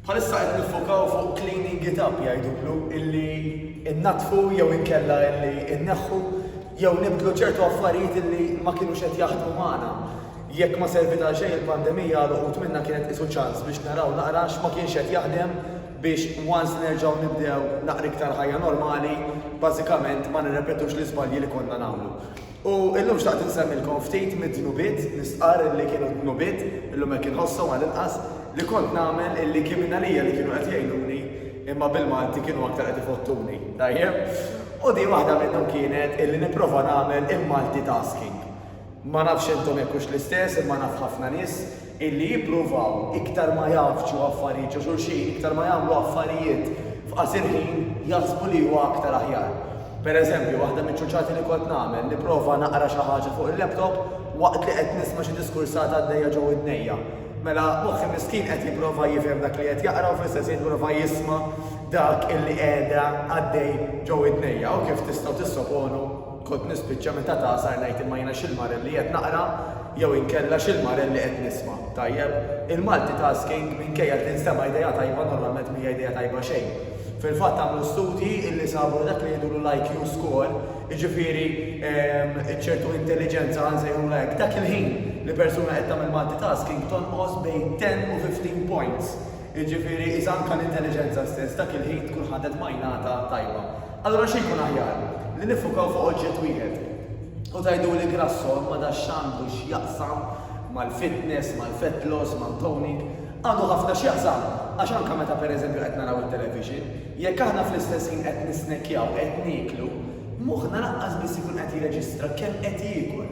Bħalissa qed niffokaw fuq cleaning it up jgħidu blu, illi nnaddfu jew inkella illi nneħħu jew nibdlu ċertu affarijiet illi ma kinux qed jaħdmu magħna. Jekk ma serviet għal xejn il-pandemija għal uħud minna kienet qisu ċans biex naraw naqra x'ma kienx qed jaħdem biex once nerġgħu nibdew naqra iktar ħajja normali bażikament ma nirrepetux l-iżbalji li konna nagħmlu. U illum xtaqt insemmilkom ftit mid-dnubiet, nistqarr illi kienu d-dnubiet, illum hekk inħosshom għall-inqas, li kont nagħmel illi kien mingħalija li kienu qed jgħinuni imma bil-Malti kienu aktar qed ifottuni. Tajjeb? U din waħda minnhom kienet illi nipprova nagħmel il-multitasking. Ma nafx intom jekk hux l-istess imma naf ħafna nies illi jippruvaw iktar ma jgħaffġu affarijiet ġo xulxin, iktar ma jagħmlu affarijiet f'qasir ħin jaħsbu li huwa aktar aħjar. Per eżempju, waħda miċ-ċuċati li kont nagħmel, nipprova naqra xi ħaġa fuq il-laptop waqt li qed nisma' xi diskursata għaddejja ġo widnejja. Mela, moħħi miskin qed jipprova jifhem dak li qed jaqra u fl-istess ħin jipprova jisma' dak illi qiegħda għaddej ġo widnejja. U kif tistgħu tissoponu? Kont nispiċċa meta tagħsar ngħid imma jiena x'il-marer li qed naqra jew inkella x'il-marer li qed nisma', tajjeb? Il-multitasking minkejja li tinstema' idea tajba normalment m'hija idea tajba xejn. Fil-fatt għamlu studji illi sabu li dak li jgħidulu l-IQ score, jiġifieri ċertu intelliġenza ħa nsejħulha hekk, dak il-ħin li persuna qed tagħmel multitasking tonqos bejn 10 u 15 points. Jiġifieri, iżda anke l-intelliġenza stess dak il-ħin tkun ħadet majnata tajba. Allura xi jkun aħjar? Li niffukaw fuq oġġett wieħed? U tgħiduli Grasso, imma da x'għandu x'jaqsam mal-fitness, mal-fat loss, mal-toning? Għandu ħafna x'jaqsam, għax anke meta pereżempju qed naraw it-television, jekk aħna fl-istess ħin qed nisnekkjaw, qed nieklu, moħħna lanqas biss ikun qed jirreġistra kemm qed jiekol.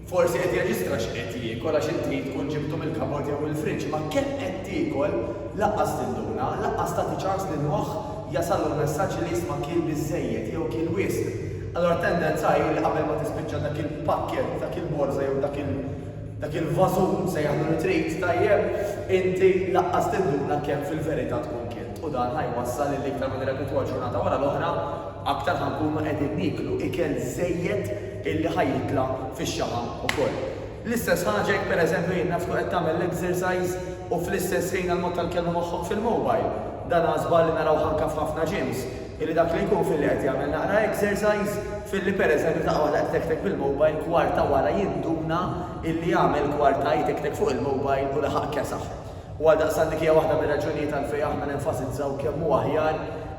Forsi qed jirreġistra x'qed jiekol għax inti tkun ġibtu mill-kabord jew mill-friġġ, imma kemm qed tiekol lanqas tinduna, lanqas tagħti ċans lill-moħħ jasallu l-messaġġ li jisma' kiel biżżejjed jew kiel wisq. Allura t-tendenza hi li qabel ma tispiċċa dak il-pakkett b'dak il-borża jew dak il dak il-vażun, sejjaħlu li trid, tajjeb, inti lanqas tinduna kemm fil-verità tkun kilt. U dan ħa jwassal li l-iktar ma nirrepetwha ġurnata wara l-oħra, aktar ħa nkunu qegħdin nieklu ikel żejjed illi ħa jitla' fix-xaħam ukoll. L-istess ħaġa jekk pereżempju jien naf tkun qed tagħmel l-exercise u fl-istess ħin għall-mod tal-kelma moħħok fil-mobile. Dan hu żball li narawh anke f'ħafna gyms, illi dak li jkun filli qed jagħmel naqra exercise, filli pereżempju f'daqqa waħda qed itektek bil-mobile kwarta wara jinduna illi għamel kwarta jitektek fuq il-mobile u laħaq kesaħ. U għaldaqstant dik hija waħda mir-raġunijiet għalfejn aħna nenfasizzaw kemm hu aħjar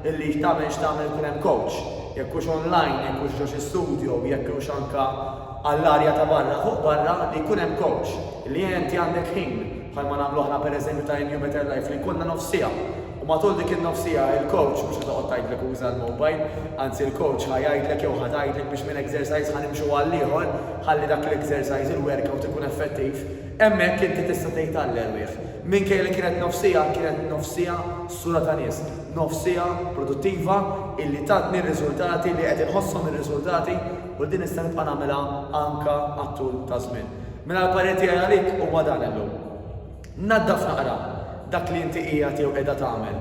illi tagħmel x'tagħmel ikun hemm kowċ. Jekk hux onlajn, jekk hux ġo xi studjo, jekk hux anke għall-arja ta' barra, fuq barra, li jkun hemm kowċ. Li enti għandek ħin, bħalma nagħmlu aħna pereżempju ta' Renew Better Life, li jkollna nofs siegħa. U matul dik in-nofs siegħa il-kowċ mhux ħa toqgħod tgħidlek uża l-mobile, anzi l-kowċ ħa jgħidlek jew ħa tgħidlek biex minn exercise ħa nimxu għall-ieħor ħalli dak l-exercise, il-workout ikun effettiv. Hemmhekk inti tista' tgħid alleluja. Minkejja li kienet nofs siegħa, kienet nofs siegħa sura ta' nies. Nofs siegħa produttiva illi tatni r-riżultati li qed inħosshom ir-riżultati u li din nista' nibqa' nagħmilha anke għat-tul taż-żmien. Mela l-parir tiegħi għalik huwa dan illum. Naddaf naqra dak li inti qiegħed jew qiegħda tagħmel.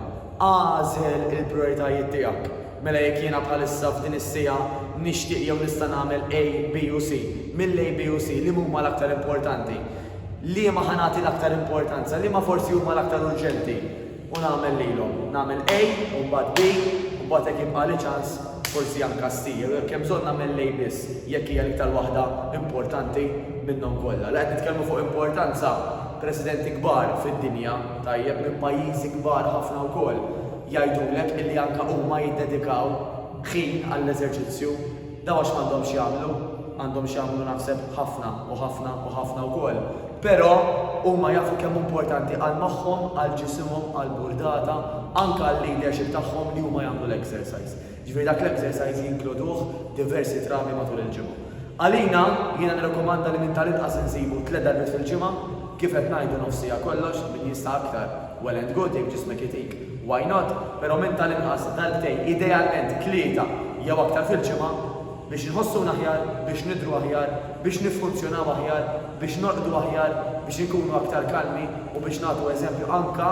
Agħżel il-prijoritajiet tiegħek. Mela jekk jiena bħalissa f'din is-siegħa nixtieq jew nista' nagħmel A, B u C, mill-A, B u C liema huma l-aktar importanti? Liema ħa nagħti l-aktar importanza? Liema forsi huma l-aktar urġenti? U nagħmel lilhom. Nagħmel A u mbagħad B u mbagħad jekk jibqagħli ċans forsi anke C jew jekk hemm bżonn nagħmel l-A biss jekk hija l-iktar waħda importanti minnhom kollha. La qed nitkellmu fuq importanza presidenti kbar fid-dinja, tajjeb, minn pajjiżi kbar ħafna wkoll. jgħidulek illi anke huma jiddedikaw ħin għall-eżerċizzju, dawn għax m'għandhomx jagħmlu, għandhom x'jagħmlu naħseb ħafna u ħafna u ħafna wkoll, però huma jafu kemm hu importanti għal moħħhom, għal ġisimhom, għall-burdata, anke għal-leadership tagħhom li huma jagħmlu l-exercise. Jiġifieri dak l-exercise jinkluduh diversi drabi matul il-ġimgħa. Għalina, jiena nirrakkomanda li minn tal-inqas insibu tliet darbiet fil-ġimgħa, kif qed ngħidu nofs siegħa kollox, min jista' aktar well and good jekk ġismek itik why not, però minn tal-inqas darbtejn, idealment tlieta jew aktar fil-ġimgħa biex inħossuna aħjar, biex nidhru aħjar, biex niffunzjonaw aħjar, biex norqdu aħjar, biex inkunu aktar kalmi u biex nagħtu eżempju anke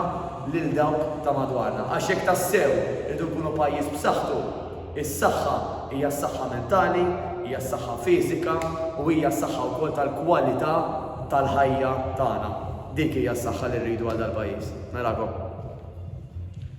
lil dawk ta' madwarna. Għax jekk tassew irridu nkunu pajjiż b'saħħtu, is-saħħa hija s-saħħa mentali, hija s-saħħa fiżika u hija s-saħħa wkoll tal-kwalità tal-ħajja tagħna. Dik hija s-saħħa li rridu għal dal-pajjiż. Narakom.